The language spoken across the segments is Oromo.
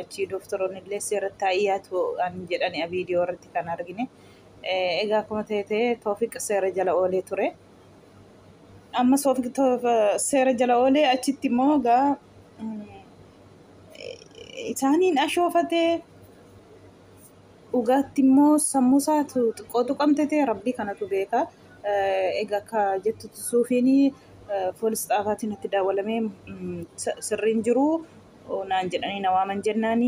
achii doktoroonni illee seeratti haa dhiyaatu an jedhani viidiyoo irratti kan argine. Egaa akkuma ta'e ta'e Toofiq seera jala oolee ture. Amma Toofiq seera jala oolee achitti immoo egaa isaaniin ashoofatee dhugaatti immoo sammuu isaatu xiqqoo tuqamte ta'e rabbii kanatu beeka. Egaa akka jettutti suufiin poolis xaafaatiin itti daawwalamee sirriin jiru naan jedhanii na waaman jennaan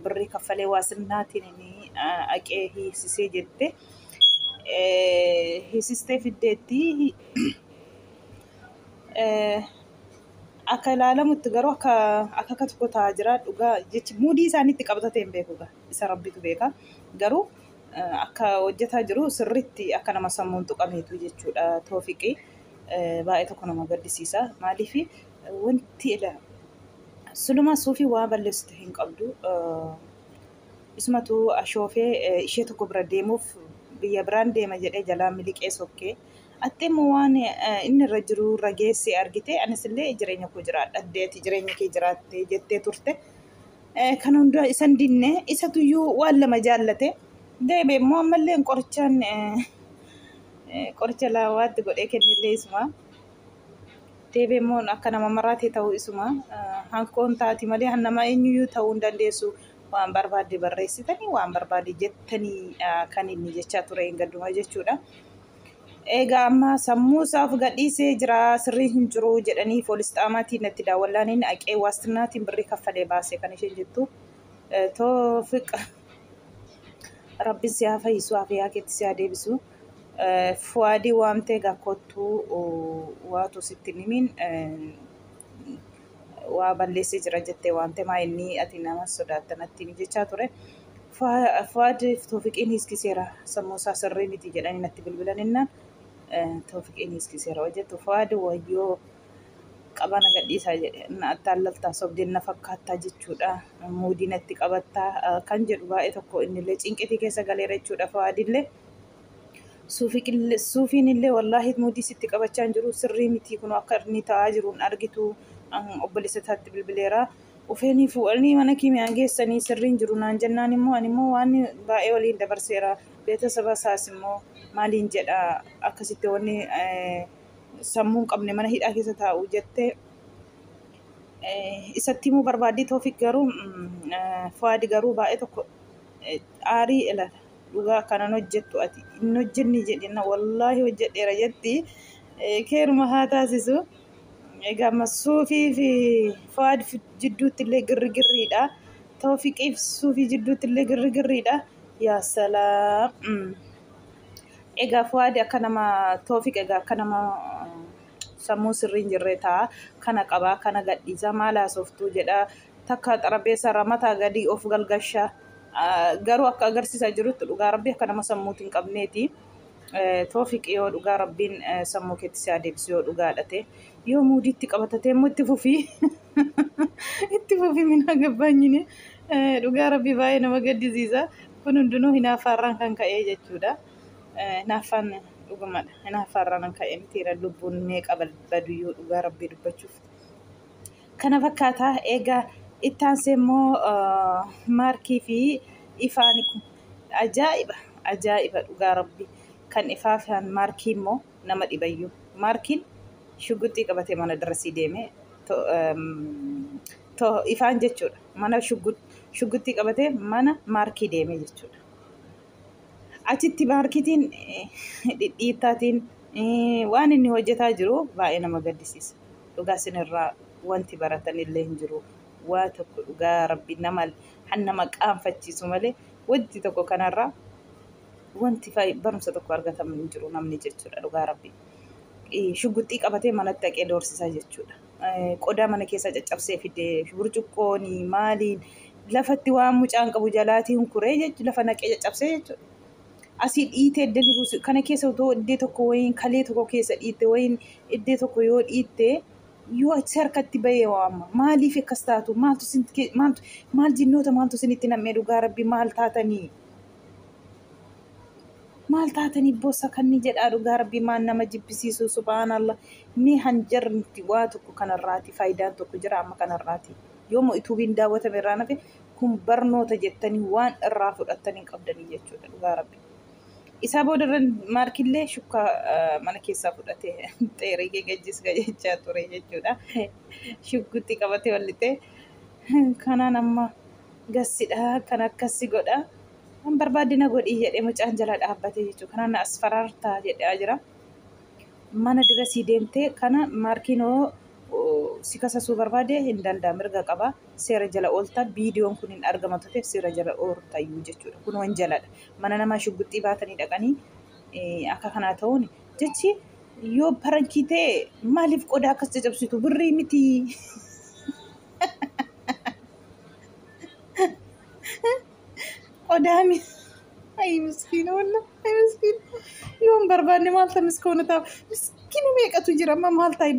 birrii kaffalee waasinnaatiin haqee hiisisee jette. Hiisistee fiddeetti akka ilaalamutti garuu akka akka akka tokko taa'aa jira dhugaa jechi muudii isaaniitti qabatatee hin beeku isa rabbitu beeka garuu akka hojjetaa jiru sirriitti akka nama sammuun tuqameetu jechuudha toofiqii. baay'ee tokko nama gaddisiisa maaliif Wanti ila sulumaa suufii waa balleessitu hin qabdu. Isumatu ashoofee ishee tokko bira deemuuf biyya biraan deema jedhee jalaa miliqee sokkee. Atti immoo waan inni irra jiru irra geessee argitee anis illee jireenya koo jiraadha addee ati jireenya kee jiraatte jettee turte. Kan hundaa isan dinne isatuyyuu waan lama jaallate deebi'e immoo ammallee qorichaan qoricha laawaatti godhee kennillee isuma. Deebee immoo akka nama maraatee ta'uu isuma hankoon taati malee nama eenyuyyuu ta'uu hin dandeessu. Waan barbaadde barreessitanii waan barbaadde jettanii kan inni jechaa ture hin gadduma jechuudha. Egaa amma sammuu isaaf gadhiisee jira sirrii hin jiru jedhanii poolis xaamaatiin natti daawwallaaniin aqee waastinnaatiin birrii kaffalee baase kan isheen jettu. Toofiq rabbiin si haa fayyisu afiyaa keetti si haa deebisu. Fuwaadii waamtee gaa kottuu waatu sitti hin himiin waa balleessee jira jettee waamtee maa inni ati nama sodaatta natti himi jechaa ture. Fuwaadiif Toofiqiin hiiskiseera sammuu isaa sirrii miti jedhanii natti bilbilan innaan Toofiqiin hiiskiseera yoo jettu Fuwaadi wayyoo qabaa na gadhiisaa jedhe na attaallaltaa sobdeen na fakkaattaa jechuudha muudii natti qabattaa kan jedhu baay'ee tokko innillee cinqitii keessa galeera jechuudha Fuwaadillee. Suufiin illee wallaahi mudii sitti qabachaa hin jiru sirrii mitii kun akka inni ta'aa jiru hin argitu obboleessa isaatti bilbileera. Ufeenii fuudhanii mana kiimiyaan geessanii sirriin jiru naan jennaan immoo ani immoo waan baay'ee waliin dabarseera. Beetasaba isaas immoo maaliin jedha akkasitti wanni sammuu hin qabne mana hidhaa keessa taa'u jettee isatti himuu barbaaddii Toofiq garuu Fuwaadi garuu baay'ee tokko aarii ilaala. dhugaa kanan hojjettu ati hin hojjenne jedhina wallaahi hojjedheera jetti keeruma haa taasisu egaa amma suufii fi faad jidduutti illee girrigirriidha toofiqiif suufii jidduutti illee girrigirriidha yaa salaam egaa faadi akka nama toofiq egaa akka nama sammuu sirrii hin jirre ta'a kana qabaa kana gadhiisa maal haasoftuu jedha takka xarabeessa irraa mataa gadii of galgasha garuu akka agarsiisaa jirutti dhugaa rabbii akka nama sammuuti hin qabneeti toofiqi yoo dhugaa rabbiin sammuu keetti si adeebisi yoo dhugaa dhate yoo muudiitti qabatatee immoo itti fufii itti fufii minaa gabbaanyini dhugaa rabbii baay'ee nama gaddisiisa kun hundinuu hinaaffaarraan kan ka'ee jechuudha hinaaffaan dhugumadha hinaaffaarraan kan ka'e mitiira lubbuun meeqa baduyyuu dhugaa rabbii dubbachuuf kana fakkaata. Egaa itti aansee immoo maarkii fi ifaan ajaa'iba ajaa'iba dhugaa rabbi kan ifaa fi maarkii immoo nama dhibayyuu maarkiin shugguxii qabatee mana darasii deeme to ifaan jechuudha mana shugguxii qabatee mana maarkii deeme jechuudha. Achitti maarkitiin dhidhiittaatiin waan inni hojjetaa jiru baay'ee nama gaddisiisa. dhugaa isinirraa wanti baratanillee hin jiru waa tokko dhugaa rabbi nama han nama qaanfachiisu malee wanti tokko kanarraa wanti fay- barumsa tokko argatamu hin jiru namni jechuudha dhugaa rabbi Eh, shugguxxii qabatee manatti dhaqee doorsisaa jechuudha Eh, qodaa mana keessaa caccabsee fidee burcuqqooni maaliin lafatti waan mucaan qabu jalaatiin kuree jechuudha lafa naqee caccabsee jechuudha asii dhiitee iddee ni buusu kana keessa otoo iddee tokko wayiin kalee tokko keessa dhiitte wayiin iddee tokko yoo dhiitte yoo achi harkatti bahee waama maaliif akkas taatu maaltu isintti kee- maaltu maal jinnoota maaltu isinitti nam'ee dhugaa rabbi maal taatanii maal taatanii bossa kanni jedhaa dhugaa rabbi maan nama jibbisiisu subhaanallah mee hanjarmti waa tokko kanarraati faayidaan tokko jira amma kanarraati yooma ituubiin daawwatame irraa nafe kun barnoota jettanii waan irraa fudhattan hin qabdanii jechuudha dhugaa rabbi. Isaa booda irra maarkillee shukkaa mana keessaa fudhate xeerii gegejjis gajechaa ture jechuudha. Shuggutti qabate wallixee kanaan amma gassidha kan akkassi godha. Kan barbaadde na godhii jedhee mucaan jala dhaabbate jechuudha. Kanaan na asfaraartaa jedhaa jira. Mana dirasii deemtee kana maarkiinoo si kasasuu barbaade hin danda'a mirga qabaa. seera jala oolta viidiyoon kun hin argama tuteef seera jala ooltayyuu jechuudha kun wanjaladha mana namaa shugguxxii baatanii dhaqanii akka kanaa ta'uun jechi yoo parankii ta'e maaliif qodaa akkas cacabsitu birrii miti qodaa miti ayi miskiina walla ayi miskiina yoo hin barbaanne maal ta'a miskoona ta'a miskiina meeqatu jira amma maal ta'a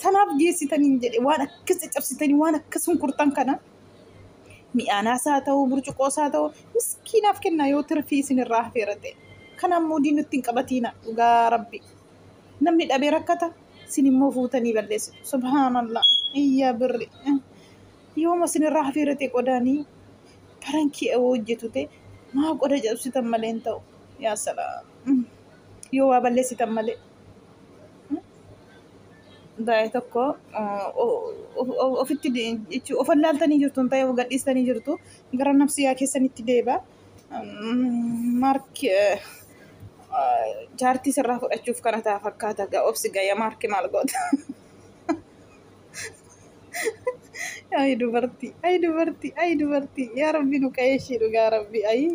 sanaaf geessitaniin jedhe waan akkas caccabsitanii waan akkas hunkurtan kana mi'aanaas haa ta'u burcuqoos haa ta'u miskiinaaf kennaa yoo tirfii isinirraa hafeera ta'e kanaan moodii nutti hin qabatiina dhugaa rabbi namni dhabee rakkata isin immoo fuutanii balleessu subhaanallah iyyaa birri yooma isinirraa hafeera ta'e qodaanii barankii awoo hojjetu ta'e maa qoda cabsitan malee hin ta'u yaa salaam yoo waa balleessitan malee Daa'ee tokko ofitti jechuun of allaaltanii jirtu ta'ee of gadhiistanii jirtu gara nafsiyaa keessanitti deeba. Maarki jaartii sirraa fudhachuuf kana ta'a fakkaata gaa obsi gaya maarki maal goota. Ayi dubartii ayi dubartii ayi dubartii yaa rabbi nu qayeeshii dhugaa rabbi ayi.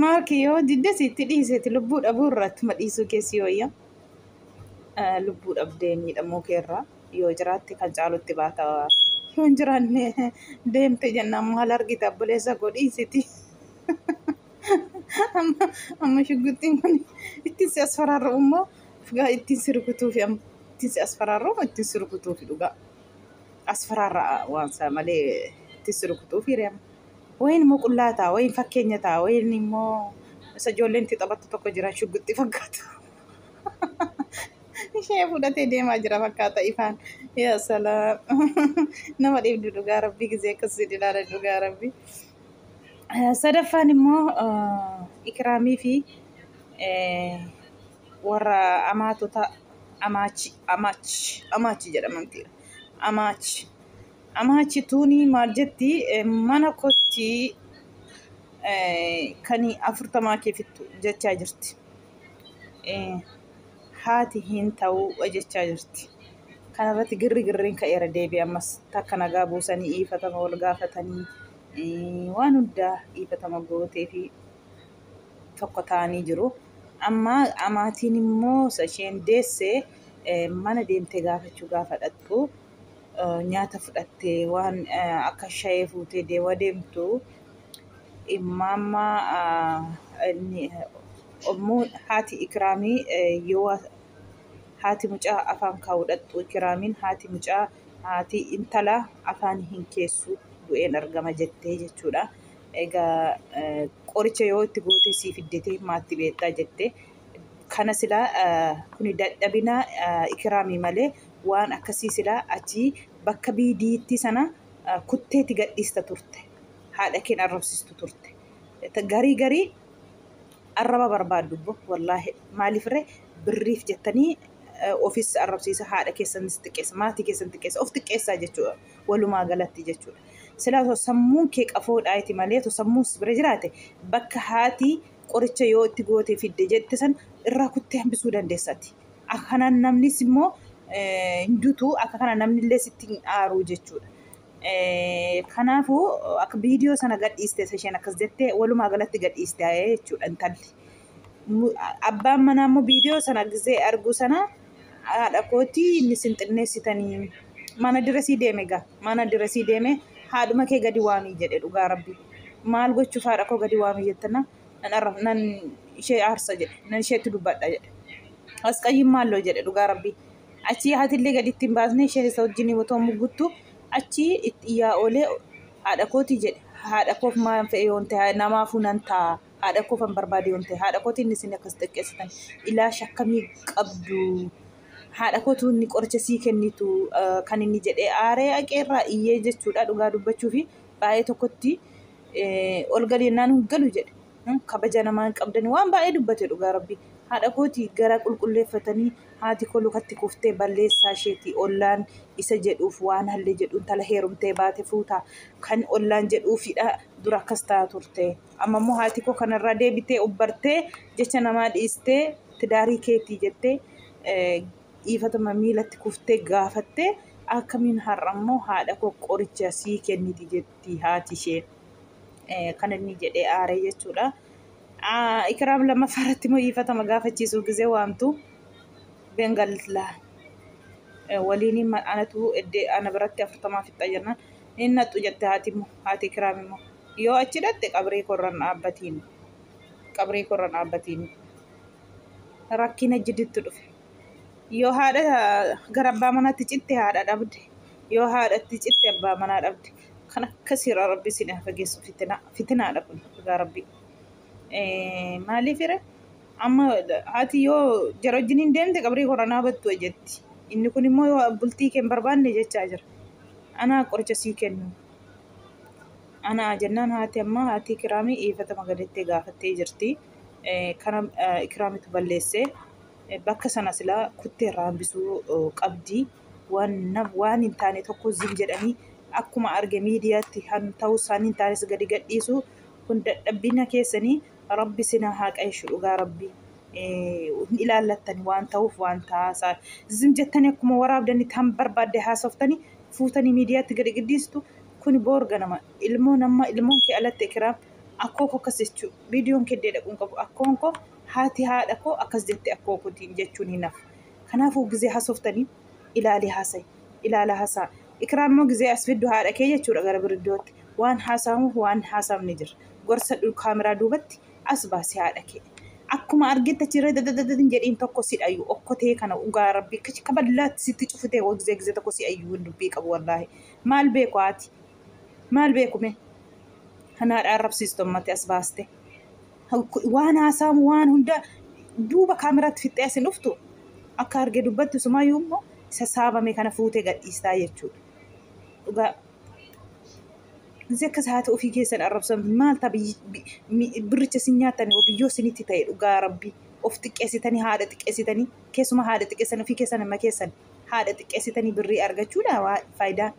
Maarki yoo didde sitti dhiiseeti lubbuu dhabuu irraa ittuma dhiisuu keessi wayya. Lubbuu dhabdee miidhamuu kee irraa yoo jiraatte kan caalutti baata. Yoo hin jiraanne deemte jennaan maal argita obboleessa koo dhiisiti. Amma amma shugguxxiin kun ittiin si as faraarru immoo dhugaa ittiin si rukutuufi amma ittiin si as faraarru immoo ittiin si rukutuufi dhugaa as faraarra waan isaa malee ittiin si rukutuufi reema. Wayiin immoo qullaa ta'a, wayiin fakkeenya ta'a, wayiin immoo isa ijoolleen itti taphattu tokko jira shugguxxii fakkaatu. Ishee fudhatee deemaa jira fakkaata ifaan. Yaa salaam. Nama dhiibdu dhugaa rabbii gizee akkasii ilaala dhugaa rabbii. Eh, Sadaffaan immoo eh, ikiraamii fi eh, warra amaatota amaachi amaachi amaachi jedhamanti amaachi Amaachi tuuni maal jetti mana kotti kani afurtamaa kee fixxu jechaa jirti. Haati hin ta'u jechaa jirti. Kanarratti girri girriin ka'eera deebi ammas takka nagaa buusanii iifatama wal gaafatanii waan hundaa iifatama gootee fi tokko ta'anii jiru. Amma amaatiin immoo isa isheen deesse mana deemtee gaafachuu gaafa dhaqxu nyaata fudhattee waan akka shayee fuutee deewa deemtu immaammaa ommuu haati ikiraamii yoo haati mucaa afaan kaa'uu dhaqxu ikiraamiin haati mucaa haati intala afaan hin keessu du'een argama jettee jechuudha. Egaa qoricha yoo itti gootee sii fiddetee maatti beektaa jettee kana silaa kuni dadhabina ikiraamii malee waan akkasii silaa ati bakka biidiittii sana kutteeti gadhiista turte haadha keen arrabsistu turte garii garii arraba barbaaddu bo wallaahi maaliifirre birriif jettanii ofis arrabsiisa haadha keessanis xiqqeessa maatii keessan xiqqeessa of xiqqeessaa jechuudha walumaa galatti jechuudha silaa osoo sammuun kee qafoodhaa iti malee osoo sammuun si bira jiraate bakka haati qoricha yoo itti gootee fidde jette san irraa kuttee hambisuu dandeessati akka kana namnis immoo eh, hin dutu akka kana namni illee sitti hin aaru jechuudha. Eh, Kanaafuu akka viidiyoo sana gadhiiste isa isheen akkas jettee walumaa galatti gadhiiste eh, jechuudha intalli. Mu- Abbaan manaa immoo viidiyoo sana gisee arguu sana haadha kootii inni sin xinneessitanii mana dirasii deeme gaa mana dirasii deeme haadhuma kee gadi waamii jedhe dhugaa rabbi maal gochuuf haadha koo gadi waamii jettana nan arra nan ishee aarsa jedhe nan isheetti dubbadha jedhe asqayyiin maalloo jedhe dhugaa rabbii achii haatillee gaditti hin baasne ishee isa wajjin otoo mugguttu achii itti iyyaa oolee haadha kooti jedhe haadha koof maan fe'e yoon ta'e namaafuu nan ta'a haadha koof an barbaade yoon ta'e haadha kootiin isin akkas xiqqeessitan ilaash akkamii qabdu haadha kootu inni qoricha sii kennitu eh, kan inni jedhee aaree aqeerraa iyyee jechuudha dhugaa dubbachuufi baay'ee tokkotti ol gadi jennaan hin galu jedhe. Kabaja namaa hin qabdani waan baay'ee dubbate dhugaa rabbi. Haadha kooti gara qulqulleeffatanii haati koo lukatti kuftee balleessaa isheeti ollaan isa jedhuuf waan hallee jedhu intala heerumtee baate fuuta kan ollaan jedhuufidha dura akkas ta'a turte. Amma immoo haati koo kanarraa deebitee obbartee jecha namaa dhiistee tidaarii keetii jettee dhiifatama miilatti kuftee gaafattee akkamiin har'a immoo haadha koo qoricha sii kenniti jette. jetti haati ishee. Kan inni jedhee aaree jechuudha. Ikiraam lammaffaa irratti immoo hiifatama gaafachiisuu gizee waamtu Bengallaa waliin anatu eddee ana biratti afurtamaa fixxa jennaan hin naqxu jette haati immoo haati Ikiraam immoo yoo achi dhatte qabrii korran dhaabbatiin qabrii korran dhaabbatiin rakkina jiditti dhufe. Yoo haadha gara abbaa manaatti citte haadha dhabde. Yoo haadhatti citte abbaa manaa dhabde. Kan akkasiirraa rabbi isin haa fageessu fitinaa. Fitinaadha kun dhugaa rabbi. Maaliifire amma haati yoo jara wajjin hin deemte qabrii koo ranaa battu jetti. Inni kun immoo yoo bultii kee hin barbaanne jechaa jira. Anaa qoricha sii kennu. Anaa jennaan haati amma haati kiraamii iifatama galettee gaafattee jirti. Kana kiraamitu balleessee. bakka sana silaa kuttee irraa hambisuu qabdi. Waan hin taane tokko zim jedhanii akkuma arge miidiyaatti kan ta'uu isaanii hin taanes gadi gadhiisu. Kun dadhabbina keessanii rabbi sina haa qaeshu dhugaa rabbi. Hin ilaallattan waan ta'uuf waan ta'aa zim jettanii akkuma waraabdanii tan barbaadde haasoftanii fuutanii miidiyaatti gadi gadhiistu. Kun boor ganama ilmoo nama ilmoon kee alatti ekiraam akkoo koo akkas jechuu viidiyoon keddee dhaquun qabu akkoon koo haati haadha koo akkas jette akkoo kotiin jechuun hin hafu. Kanaafuu gizee hasoftanii ilaalii haasayi. Ilaala hasaa. Ikiraam immoo gizee as fiddu haadha kee jechuudha gara biriddootti. Waan haasaamuuf waan haasaamne jira. Gorsa dhu kaameraa duubatti as baasi haadha kee. Akkuma argetti achi irra dadadadad hin jedhiin tokko si dhayu okkotee kana ugaa rabbii kachi kaballaatti sitti cufutee koo gizee gizee tokko si ayyu hin dubbii qabu wallaahi. Maal beeku haati? Maal beeku mee? Kan haadha arrabsiistu ammatti as baaste. waan haasaamu waan hunda duuba kaameraatti fixxee asin dhuftu akka arge dubbattu sumayyuu immoo isa saamame kana fuutee gadhiistaa jechuudha. Dhugaa Izi akkas haa ta'u ofii keessan arrabsan maal ta'a birricha isin nyaattan yoo biyyoo isinitti ta'e dhugaa rabbii of xiqqeessitanii haadha xiqqeessitanii keessuma haadha xiqqeessan ofii keessan amma keessan haadha xiqqeessitanii birrii argachuudha waa faayidaa.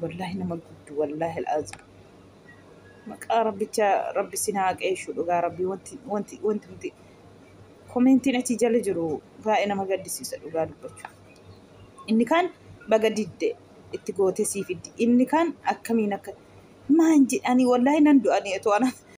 Wallaahi nama gudduu wallaahi al'aazim. Maqaa rabbicha rabbi sin haa qeeshu dhugaa rabbi wanti wanti wanti wanti komentiin achi jala jiru baay'ee nama gaddisiisa dhugaa dubbachuu. Inni kaan baga didde itti gootee sii fiddi. Inni kaan akkamiin akka maan jedhanii wallaahi nan du'anii otoo ana